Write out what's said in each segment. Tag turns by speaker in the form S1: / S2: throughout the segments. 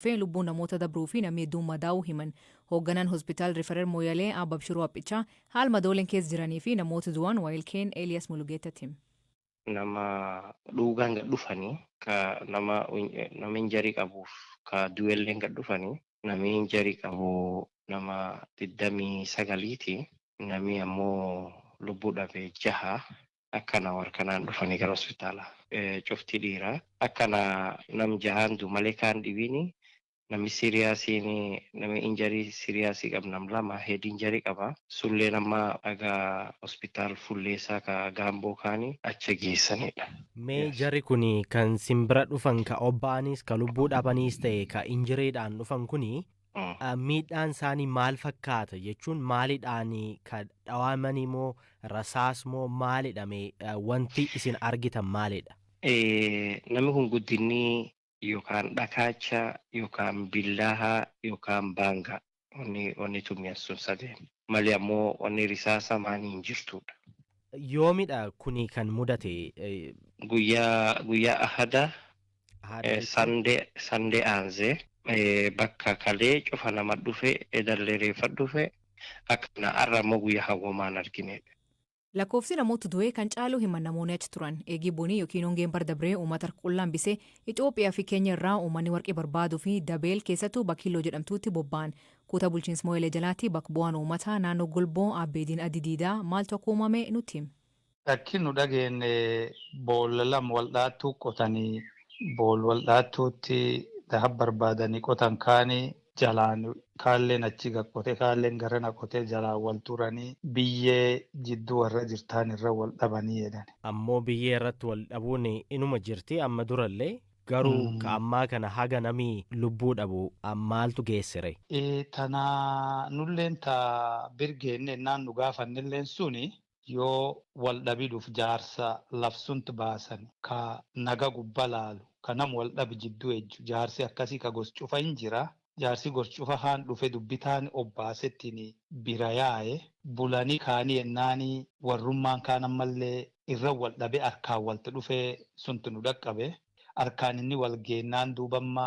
S1: fi lubbuun namoota dabruu fi namni hedduun madaa'uu himan. Hoogganaan Hospitaal Riferer Mooyalee Aab Abshiruu Aphichaa haal madooleen keessa jiranii fi namoota du'an waayil keen Eliyas Mulugeettatti hime. nama
S2: dhuugaan gad dhufani ka nama nama injury qabuuf ka du'elleen gad dhufani namii injury qabu nama 29 ti namii ammoo lubbuu dhabe jaha Akkana war kanaan dhufani gara hospitaala cufti dhiira akkana nam jahaan du male kaan dhibiini nami siriyaasiin nami injury siriyaasii qab nam lama head injury qaba sulleen amma aga hospitaal fulleesaa ka gaamboo kaani acha geessanidha. Mee Yes. jarri
S3: kuni kan sin bira dhufan ka obbaaniis ka lubbuu dhabaniis ta'e ka injiriidhaan dhufan kuni Miidhaan isaanii maal fakkaata jechuun maalidhaan ka dhawaamanii moo rasaas moo maalidha mee wanti isin argitan maalidha? Namni
S2: kun guddinni yookaan dhakaacha yookaan billaaha yookaan baanga wanni wanni tumyan sun sadeen malee ammoo wanni risaasa maanii hin jirtuudha. Yoomidha
S3: kuni kan mudate? Guyyaa
S2: guyyaa ahada Haadha Eh, jechuun Sande sande aanze eh, bakka kalee cufa nama dhufe edallee reeffa dhufe akkana arra immoo guyyaa hawwamaan argine. Lakkoofsi
S1: namoota du'ee kan caalu hima namoonni achi turan. Eegii bonii yookiin hongeen bar dabree uummata harka qullaan bisee Itoophiyaa fi Keenya irraa uummanni warqii barbaaduu fi Dabeel keessattuu Bakiiloo jedhamtuutti bobba'an. Kuuta bulchiinsa Mooyalee jalaatti bakka bu'aan uummataa naannoo Golboo Aabbeediin Addi Diidaa maaltu akka uumame nutti hime. Lakki nu
S4: dhageenne boolla lama wal dhaattuu qotani bool wal dhaattuutti daha barbaadani qotan kaani jalaan kaalleen achi gad qote kaalleen garana qote jalaan wal turani biyyee jidduu warra jirtaan irra wal dhabani jedhani. Ammoo biyyee irratti
S3: wal dhabuun inuma jirti amma durallee garuu ka ammaa kana haga nami lubbuu dhabu maaltu geessere? Ee tana
S4: nulleen ta bir geenne ennaan nu gaafannelleen suni Yoo wal dhabidhuf jaarsa lafsunt baasan ka naga gubba laalu ka nam wal dhabi jiddu ejju jaarsi akkasi ka gos cufa hin jira jaarsi gos cufa kaan dhufe dubbi taani obbaasetini bira yaaye bulani kaani yennaani warrummaan kaan ammalle irra wal dhabe arkaan walt dhufe sunt nu dhaqqabe arkaan inni wal geennaan duuba amma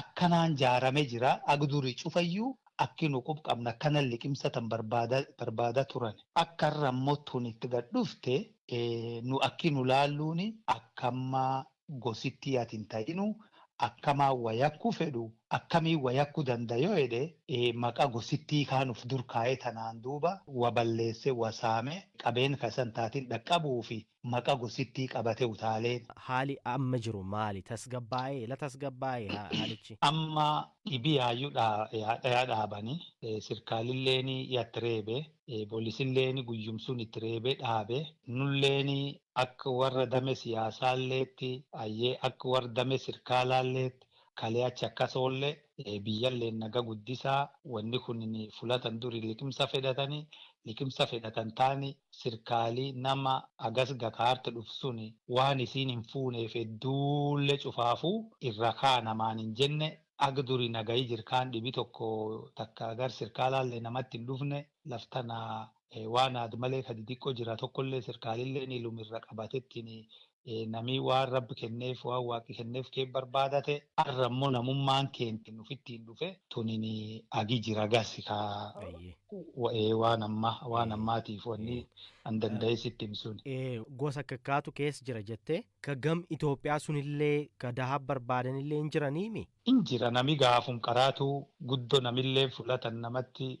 S4: akkanaan jaarame jira ag duri ch'ufayyu aka nu quba qabnu akana liqimsa tana barbaada barbaada turani aka arra ammo tuni iti gadi d'ufte nu aki nu laalluuni aka amma gosi tiati intahiinu akama wa yaku fed'u akami wa yaku danda yo jed'e maqa gosi tii kaani ufi dura kaye tanaan duuba wa balleese wa saame qabeeni ka isa intaatini d'aqabuufi maqa gosittii qabate utaalee. Haali amma
S3: jiru maali? Tasgabbaa'ee la tasgabbaa'e haalichi? Amma
S4: dhibiyaayyu dhaya dhaabani. Sirkaalilleeni yatti reebe. Polisilleeni guyyum sun itti reebe dhaabe. Nulleeni akka warra dame siyaasaalleetti ayyee akka warra dame sirkaalaalleetti kalee achi akkas oolle. Biyyalleen naga guddisaa. Wanni kunini fula tan duri liqimsa fedhatani liqimsa fedhatan taani sirkaali nama agas gakaart dhuf suni waan isiin hin fuuneef edduulle cufaafu irra kaa namaan hin jenne ag duri nagayi jir kaan dhibi tokko takka gar sirkaalaalle namatti hin dhufne laf tana waan aad malee ka didiqqo jira tokkolle sirkaalilleen ilum irra qabatettini Namii waan Rabbi kenneef, waan Waaqi kenneef kee barbaadate, arra immoo namummaan keenti nuf ittiin dhufe, tunini agi jira gasi ka Ayyee. wa'ee waan ammaa, waan Ee, ammaatiif wanni ee. an danda'ee sitti him sun. Ee, gosa akka
S3: kaatu keessa jira jettee ka gam Itoophiyaa sunillee ka dahaab barbaadanillee hin jiraniimi? In jira nami
S4: gaafum qaraatuu guddo namilleen fulatan namatti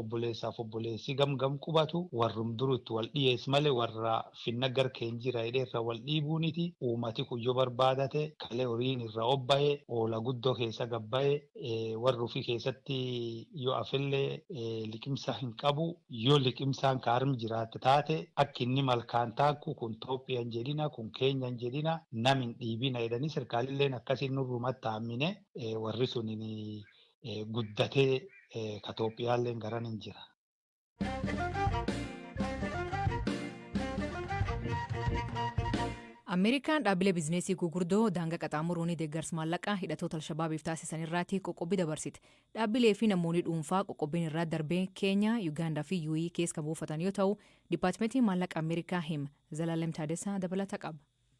S4: obboleessaaf obboleessi gamgam qubatu warrum duru itti wal dhiyees male warra finna gar keen jira jedhe irra wal dhiibuuniti uumati kun yo barbaadate kale horiin irra obbaye oola guddo keessa gabbaye warri ufi keessatti yo afelle liqimsa hin qabu yo liqimsaan ka arm jiraatte taate akki inni malkaan taakku kun toophiya hin jedhina kun keenya hin jedhina nam hin dhiibina jedhani serkaalilleen akkasi nurrumatti aammine warri sunin guddatee ka Itoophiyaalleen garan hin jira.
S1: Ameerikaan dhaabbilee bizineesii gugurdoo daangaa qaxaamuruun deeggarsa maallaqaa hidhatoota Alshabaabiif taasisan irraatti qoqqobbii dabarsite. Dhaabbilee fi namoonni dhuunfaa qoqqobbiin irraa darbee Keenyaa, Yugaandaa fi UAE keessa kan buufatan yoo ta'u, Dipaatimentiin Maallaqa Ameerikaa him Zalaalem Taadessaa dabalata qaba.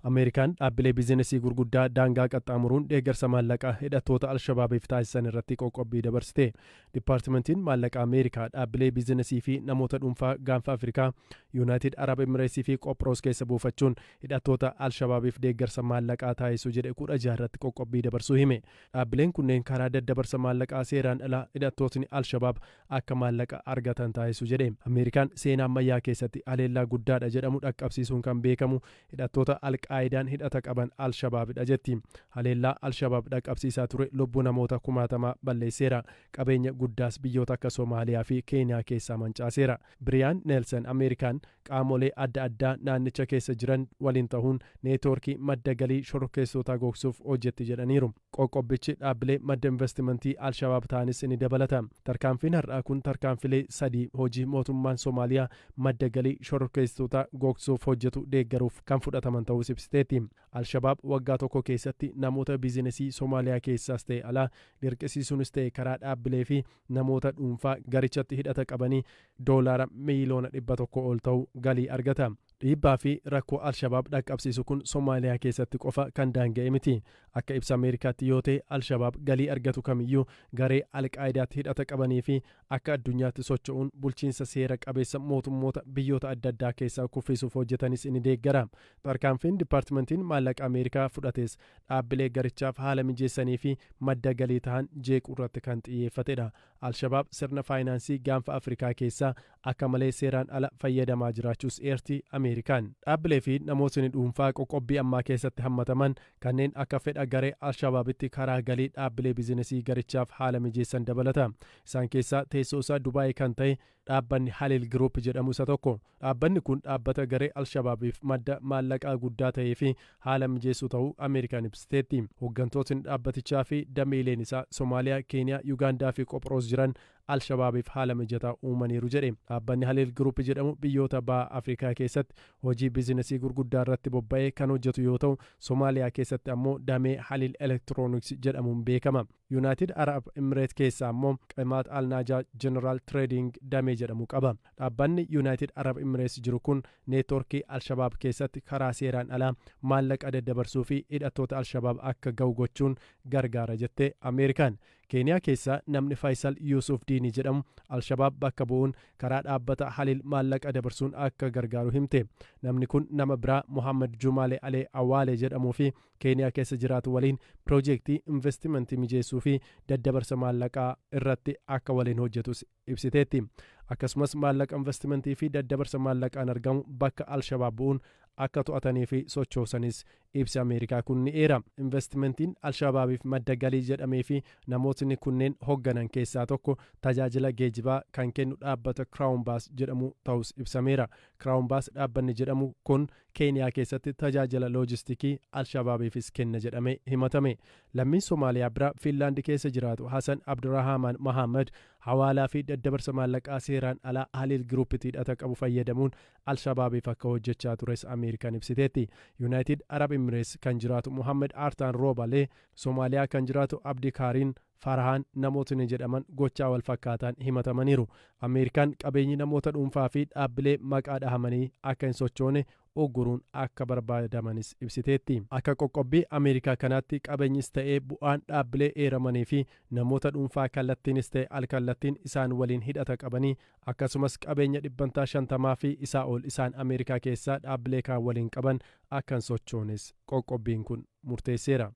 S1: Ameerikaan dhaabbilee
S5: bizinesii gurguddaa daangaa qaxxaamuruun deeggarsa maallaqaa hidhattoota al-Shabaabiif taasisan irratti qoqqobbii dabarsite. Dippaartimentiin Maallaqaa Ameerikaa dhaabbilee bizinesii fi namoota dhuunfaa Gaanfa Afrikaa, Yuunaayitid Arab Emireetsii fi Qophroos keessa buufachuun hidhattoota al-Shabaabiif deeggarsa maallaqaa taasisu jedhe 16 irratti qoqqobbii dabarsuu hime. Dhaabbileen kunneen karaa daddabarsa maallaqaa seeraan alaa hidhattootni al-Shabaab akka maallaqa argatan taasisu jedhe. Ameerikaan seenaa ammayyaa keessatti haleellaa guddaadha jedhamu dhaqqabsiisuun kan beekamu hidhattoota Al-Qaayidaan hidhata qaban Al-Shabaabidha jetti. Haleellaa Al-Shabaab dhaqqabsiisaa ture lubbuu namoota kumaatamaa balleesseera. Qabeenya guddaas biyyoota akka Somaaliyaa fi Keeniyaa keessaa mancaaseera. Biriyaan Neelsan Ameerikaan qaamolee adda addaa naannicha keessa jiran waliin tahuun neetwoorkii madda galii shororkeessitootaa gogsuuf hojjetti jedhaniiru. Qoqqobbichi dhaabbilee madda investimantii al-Shabaab ta'anis ni dabalata. Tarkaanfiin har'aa kun tarkaanfilee sadii hojii mootummaan Somaaliyaa madda galii shororkeessitootaa googsuuf hojjetu deeggaruuf kan fudhataman ta'uus ibsiteetti. Al-Shabaab waggaa tokko keessatti namoota biizinesii Somaaliyaa keessaas ta'e alaa dirqisiisuunis ta'e karaa dhaabbilee fi namoota dhuunfaa garichatti hidhata qabanii doolaara miiliyoona 100 ol ta'u galii argata. Dhiibbaa fi rakkoo al-Shabaab dhaqqabsiisu kun Somaaliyaa keessatti qofa kan daanga'e miti. Akka ibsa Ameerikaatti yoo ta'e, al-Shabaab galii argatu kamiyyuu garee al-Qaayidaatti hidhata qabanii fi akka addunyaatti socho'uun bulchiinsa seera qabeessa mootummoota biyyoota adda addaa keessaa kuffiisuuf hojjetanis ni deeggara. Tarkaanfiin Dippaartimantiin Maallaqa Ameerikaa fudhates dhaabbilee garichaaf haala mijeessanii fi madda galii tahan jeequurratti kan xiyyeeffatedha. Al-Shabaab sirna faayinaansii Gaanfa Afrikaa keessaa Akka malee seeraan ala fayyadamaa jiraachuus eerti Ameerikaan. Dhaabbilee fi namootni dhuunfaa qoqqobbii ammaa keessatti hammataman kanneen akka fedha garee Alshabaabitti karaa galii dhaabbilee bizinesii garichaaf haala mijeessan dabalata. Isaan keessaa teessoo isaa Dubaayii kan ta'e dhaabbanni Haliil Giruup jedhamu isa tokko. Dhaabbanni kun dhaabbata garee Alshabaabiif madda maallaqaa guddaa ta'ee fi haala mijeessu ta'uu Ameerikaan ibsiteetti. Hoggantootni dhaabbatichaa fi dameeleen isaa Somaaliyaa, Keeniyaa, Yugaandaa fi Qophroos jiran Al-Shabaabiif haala mijataa uumaniiru jedhe. Dhaabbanni Halil Group jedhamu biyyoota Baha Afrikaa keessatti hojii bizinasii gurguddaa irratti bobba'ee kan hojjetu yoo ta'u, Somaaliyaa keessatti ammoo damee Halil Electronics jedhamuun beekama. Yunaayitid Arab Immireet keessaa ammoo Qemaat Al-Naajaa General Trading damee jedhamu qaba. Dhaabbanni Yunaayitid Arab Immireets jiru kun neetworkii Al-Shabaab keessatti karaa seeraan alaa maallaqa daddabarsuu fi hidhattoota Al-Shabaab akka gahu gochuun gargaara jette Ameerikaan. Keeniyaa keessaa namni Faayisal Yuusuuf Diinii jedhamu Al-Shabaab bakka bu'uun karaa dhaabbata Haliil maallaqa dabarsuun akka gargaaru himte. Namni kun nama biraa Mohaammad Juumaalee Alee Awaalee jedhamuu fi Keeniyaa keessa jiraatu waliin piroojeektii investimantii mijeessuu fi daddabarsa maallaqaa irratti akka waliin hojjetus ibsiteetti. Akkasumas maallaqa investimentii fi daddabarsa maallaqaan argamu bakka Al-Shabaab bu'uun akka to'atanii fi sochoosanis ibsi Ameerikaa kun ni eera. Investimentiin Al-Shabaabiif madda galii jedhamee fi namootni kunneen hogganan keessaa tokko tajaajila geejibaa kan kennu dhaabbata Crown Bus jedhamu ta'uus ibsameera. Crown Bus dhaabbanni jedhamu kun Keeniyaa keessatti tajaajila loojistikii Al-Shabaabiifis kenna jedhamee himatame. Lammiin Somaaliyaa biraa Fiinlaandi keessa jiraatu Hasan Abdurahaamaan Mahaammad hawaalaa fi daddabarsa maallaqaa seeraan alaa Haliil Giruuppiti hidhata qabu fayyadamuun Al-Shabaabiif akka hojjechaa tures Ameerikaan ibsiteetti. Yunaayitid Arab Imireets kan jiraatu Muhammad Aartaan Roobalee, Somaaliyaa kan jiraatu Abdikaariin Farhaan namootni jedhaman gochaa wal fakkaataan himatamaniiru. Ameerikaan qabeenyi namoota dhuunfaa fi dhaabbilee maqaa dhahamanii akka hin sochoone ugguruun akka barbaadamanis ibsiteetti. Akka qoqqobbii Ameerikaa kanaatti qabeenyis ta'ee bu'aan dhaabbilee eeramanii fi namoota dhuunfaa kallattiinis ta'e al-kallattiin isaan waliin hidhata qabanii akkasumas qabeenya dhibbantaa 50 fi isaa ol isaan Ameerikaa keessaa dhaabbilee kaan waliin qaban akka hin sochoones qoqqobbiin kun murteesseera.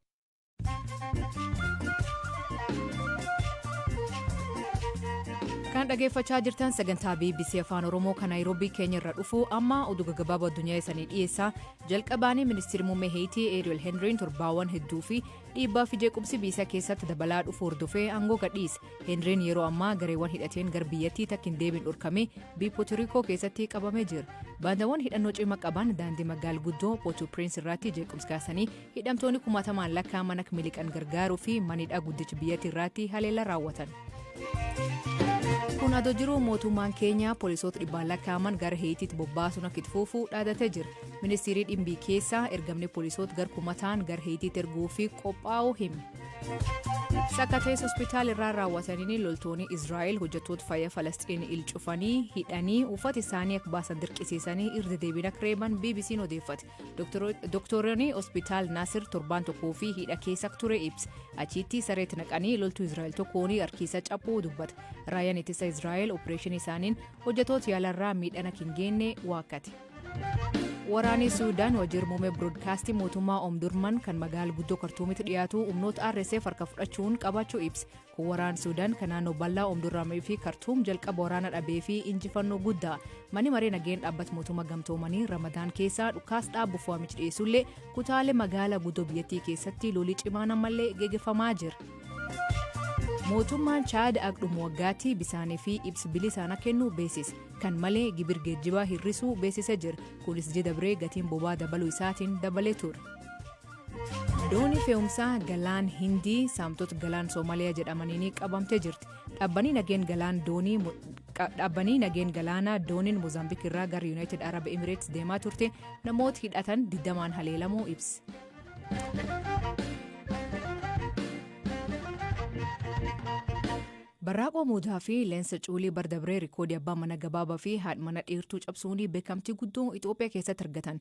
S1: kan dhageeffachaa jirtan sagantaa bbc afaan oromoo kan naayiroobii keenya irra dhufu amma oduu gaggabaaboo addunyaa isanii dhiyeessaa jalqabaanii ministeerri muummee heeyitii eeriyel henriin torbaawwan hedduu fi dhiibbaa fi jeequmsi biyya keessatti dabalaa dhufu hordofee aangoo gadhiise henriin yeroo ammaa gareewwan hidhateen gara biyyattii takka hin deebiin dhorkame biyya pootorikoo keessatti qabamee jira baandaawwan hidhannoo cima qaban daandii magaal guddoo pootu piriins irratti jeequmsi kaasanii Hidhamtooni kumaatamaan lakkaa'aman akka miliqan gargaaruu fi manidhaa guddichi biyyatti irraatti haleellaa raawwatan. Kun adoo jiru mootummaan Keeniyaa poolisoota dhibbaan lakkaa'aman gara Heeyitiitti bobbaasuun akka itti fufu dhaadatee jira. Ministiirii dhimbii keessaa ergamni poolisoota gar kumataan gara Heeyitiitti erguu fi qophaa'uu hime. Sakkatees hospitaal irraa raawwataniin loltoonni Israa'el hojjettoota fayyaa Falasxiin il cufanii hidhanii uffata isaanii akka baasan dirqisiisanii irra deebiin akka reeban BBC'n odeeffate. Doktooronni hospitaal Naasir torbaan tokkoo fi hidha keessa ture ibsa. Achiitti sareetti naqanii loltuu Israa'el tokkoon harkiisa caphuu dubbata. Raayyaan ittisa Israa'el opereeshinii isaaniin hojjetoota yaalarraa miidhana hin geenne waakkate. Waraanni Suudaan wajjir muummee biroodkaastii mootummaa Omdurman kan magaala guddoo Kartuumitti dhiyaatu humnoota RSF harka fudhachuun qabaachuu ibse. Waraan Suudaan kan naannoo bal'aa Omdurraamee fi Kartuum jalqaba waraana dhabee fi injifannoo guddaa mani maree nageen dhaabbat mootummaa gamtoomanii Ramadaan keessaa dhukaas dhaabuuf waamichi dhiyeessullee kutaalee magaalaa guddoo biyyattii keessatti lolii cimaan ammallee geggeeffamaa jira. Mootummaan Chaad agdhuma waggaatti bisaanii fi ibsi bilisaana kennu beeksise. Kan malee gibir geejjibaa hir'isuu beeksisee jira. Kunis ji'a dabree gatiin bobaa dabaluu isaatiin dabalee ture. doonii fe'umsaa galaan hindii saamtota galaan soomaaliyaa jedhamaniin qabamtee jirti dhaabbanii nageen galaan doonii dhaabbanii nageen galaanaa dooniin moozaambiik irraa gara yuunaayitid arab emireets deemaa turte namoota hidhatan digdamaan haleelamuu ibse. barraaqoo muudaa fi leensa cuulii bardabree rikoodii abbaa mana gabaabaa fi haadha mana dheertuu cabsuunii beekamtii guddoo itoophiyaa keessatti argatan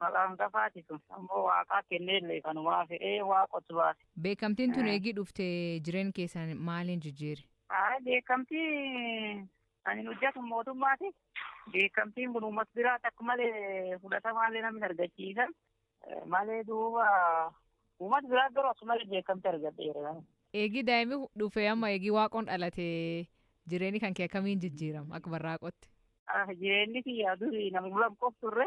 S6: Maqaa hangafaati tun. Ammoo Waaqaa kenneellee kanumaa fedhee Waaqotu baase. Beekamtiin tun eegii
S1: dhufte jireen keessan maaliin jijjiire? Ayi beekamtii
S6: ani hojjetu mootummaati. Beekamtiin kun uummata biraatti akka malee fudhatamaallee namni argachiisa. Malee duuba uummata biraa garuu akka malee beekamtii argadheera. Eegii daa'imni
S1: dhufe amma eegii waaqoon dhalate jireenyi kan kee akkamiin jijjiirama akka barraaqotti? Jireenyi
S6: kiyyaa durii nama bulan qof turre.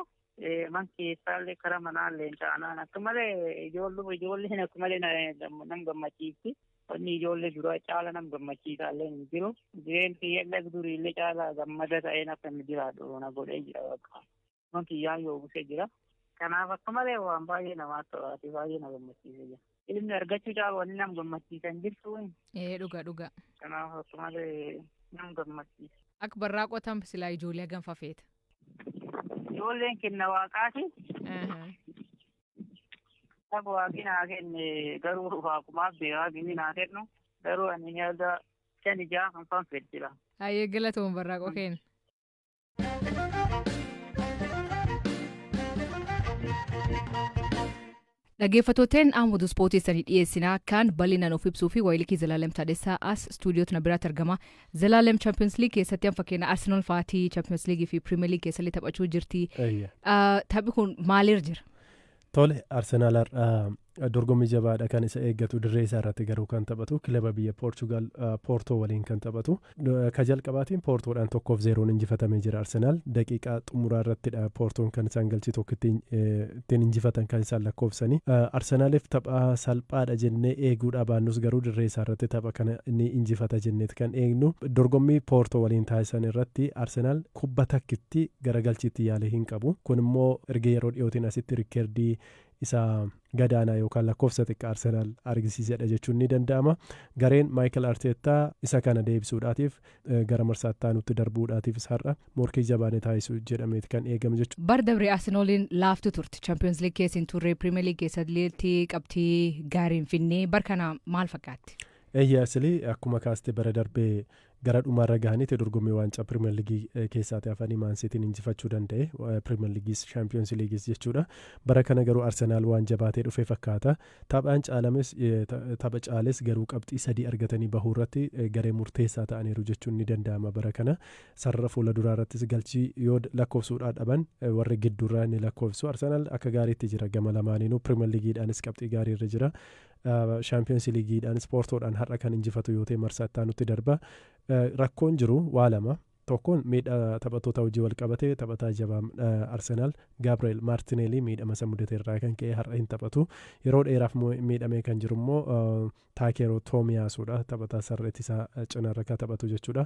S6: man keessaallee karaa manaallee taanaan akka malee ijoollee ijoolleen akka malee nam gammachiifti. Wanni ijoollee duraa caala nam gammachiisaallee hin jiru. Jireenyi kiyyaallee duriillee caala gammada ta'een akka inni jiraadhu na godhee jira bakka. Man kiyyaan yoo busee jira. Kanaaf akka malee waan baay'ee namaatti to'aati baay'ee na gammachiisee jira. Ilmi argachuu caalu wanni nam gammachiisan jirtu. Ee dhuga dhuga.
S1: Kanaaf akka
S6: malee nam gammachiisa. Akka barraa qotan
S1: silaa ijoollee hagam fafeeta.
S6: Ijoolleen kenna waaqaati. Akka waaqni naa kenne garuu waaqumaaf beekaa gini naa kennu garuu ani nyaata shan ijaa kan fanfeet jira. Hayyee galatoon
S1: barraa qokeen. Dhaggeeffatooteen Ahmad Ispoortii sanii dhiyeessinaa kan bal'inaan of ibsuu fi wayilikii Zalaalem Taadessaa as istuudiyootna biraatti argama. Zalaalem Champions League keessatti an fakkeenya Arsenal fa'aatii Champions League fi Premier League keessallee taphachuu jirti. Eeyya. Ah, Taphi kun maaliir jira? Tole
S5: Arsenaal har'a Dorgommii jabaadha kan isa eeggatu dirree isaa irratti garuu kan taphatu kilaba biyya Poorchugaal Poortoo waliin kan taphatu. Ka jalqabaatiin Poortoodhaan tokkoof zeeroon injifatamee jira Arsenaal. Daqiiqaa xumuraa irrattidha Poortoon kan isaan galchii tokko ittiin injifatan kan isaan lakkoofsanii. Arsenaaliif tapha salphaadha jennee eeguudhaa baannus garuu dirree isaa irratti tapha kana ni injifata jenneet kan eegnu. Dorgommii Poortoo waliin taasisan irratti Arsenaal kubba takkitti gara galchiitti yaalee hin qabu. Kun immoo erga yeroo dhiyootiin asitti rikkeerdii isa gadaanaa yookaan lakkoofsa xiqqaa Arsenaal argisiisedha jechuun ni danda'ama. Gareen Maayikal Arteettaa isa kana deebisuudhaatiif gara marsaa itti aanutti darbuudhaatiifis har'a morkii jabaa ni taasisu jedhameeti kan eegamu jechuudha. Bara dabre Arsenaaliin
S1: laaftuu turte. Champiyoons Liig keessa hin turre. Piriimeer Liig keessatti qabxii gaarii hin fidne. Bara kana maal fakkaatti? Eeyyee Asilii
S5: akkuma kaaste bara darbee Gara dhumaarra gahaniiti dorgommii waancaa Piriimer Liigii keessaati hafanii Maan Siitiin injifachuu danda'e. Piriimer Liigiis Shaampiyoonsi Liigiis jechuudha. Bara kana garuu Arsenaal waan jabaatee dhufe fakkaata. Taphaan caalames tapha caales garuu qabxii sadii argatanii bahuu irratti garee murteessaa ta'aniiru jechuun ni danda'ama bara kana. Sarara fuula duraa irrattis galchii yoo lakkoofsuudhaa dhaban warri gidduurraa ni lakkoofsu. Arsenaal akka gaariitti jira gama lamaaniinuu Piriimer Liigiidhaanis qabxii gaarii irra jira. Shaampiyoonsi Liigiidhaan ispoortoodhaan har'a kan injifatu yoo ta'e marsaa itti aanutti darba. Rakkoon jiru waa lama. Tokkoon miidhaa taphattoota hojii wal qabate taphataa jabaa Arsenaal Gaabri'eel Maartineelii miidhama isa mudate irraa kan ka'e har'a hin taphatu. Yeroo dheeraaf miidhamee kan jiru immoo Taakeeroo Toomiyaasuudha. Taphataa sarara ittisaa cinarra kan taphatu jechuudha.